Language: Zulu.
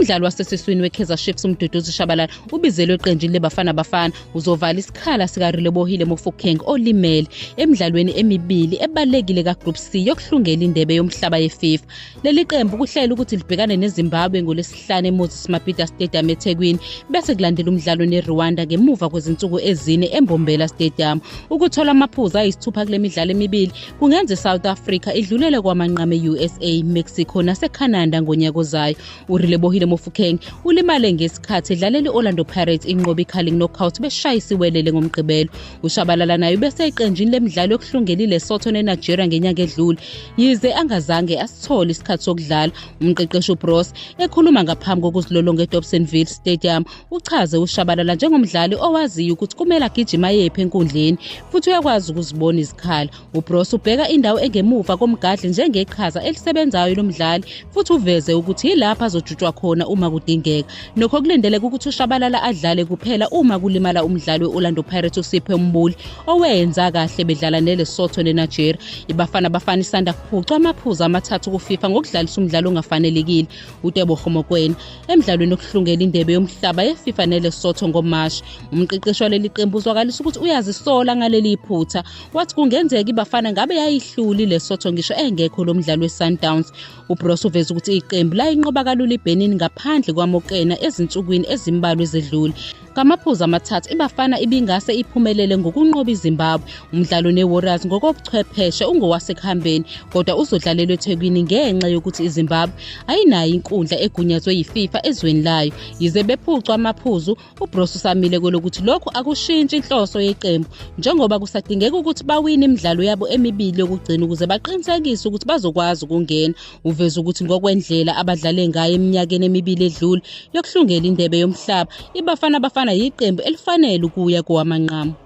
umdlali wasesiswini wekaizer chiefs umduduzi shabalala ubizelwe eqenjini lebafana bafana uzovala isikhala sikarelebohile mofokeng olimele emidlalweni emibili ebalulekile kagroup c yokuhlungela indebe yomhlaba yefifa leli qembu kuhlela ukuthi libhekane nezimbabwe ngolwesi ngolwesihlanu emoses mabhida stadium ethekwini bese kulandela umdlalo nerwanda ngemuva kwezinsuku ezine embombela stadium ukuthola amaphuzu ayisithupha kule midlalo emibili kungenza isouth africa idlulele kwamanqama e-usa mexico nasecanada ngonyaka ozayo urilebohile mofukeng ulimale ngesikhathi edlalela i-orlando pirates inqoba i-carling knockout beshayisa iwelele ngomgqibelo ushabalala naye ubese eqenjini lemidlalo yokuhlungela ilesotho nenigeria ngenyanga edlule yize angazange asithole isikhathi sokudlala umqeqeshi ubros ekhuluma ngaphambi kokuzilolonga edobsonville stadium uchaze ushabalala njengomdlali owaziyo ukuthi kumele agijima yephi enkundleni futhi uyakwazi ukuzibona izikhala ubros ubheka indawo engemuva komgadli njengeqhaza elisebenzayo lomdlali futhi uveze ukuthi yilapho azojutshwa khona uma kudingeka Nokho kulindeleke ukuthi uShabalala adlale kuphela uma kulimala umdlali we-Orlando Pirates uSiphe Mbuli owenza kahle bedlala neLesotho neNigeria. IBafana Bafana isanda kuphucwa amaphuzu amathathu kuFIFA ngokudlalisa umdlalo ongafanelekile uTebogo Mokoena emdlalweni okuhlungela indebe yomhlaba yeFIFA neLesotho ngoMashi. Umqeqeshi waleli qembu uzwakalisa ukuthi uyazisola ngaleli iphutha wathi kungenzeka iBafana ngabe yayihluli iLesotho ngisho engekho lo mdlali weSundowns. UBroos uveze ukuthi iqembu layinqoba kalula iBenin ngaphandle kwaMokena ezinsukwini ezimbalwa ezedlule. Ngamaphuzu amathathu iBafana ibingase iphumelele ngokunqoba iZimbabwe. Umdlalo neWarriors ngokobuchwepheshe ungowasekuhambeni kodwa uzodlalelwa eThekwini ngenxa yokuthi iZimbabwe ayinayo inkundla egunyazwe yiFIFA ezweni layo. Yize bephucwa amaphuzu UBroos usamile kwelokuthi lokhu akushintshi inhloso yeqembu njengoba kusadingeka ukuthi bawine imidlalo yabo emibili yokugcina ukuze baqinisekise ukuthi bazokwazi ukungena. Uveze ukuthi ngokwendlela abadlale ngayo eminyakeni emibili edlule yokuhlungela indebe yomhlaba, iBafana Bafana yiqembu elifanele ukuya kowamanqamu.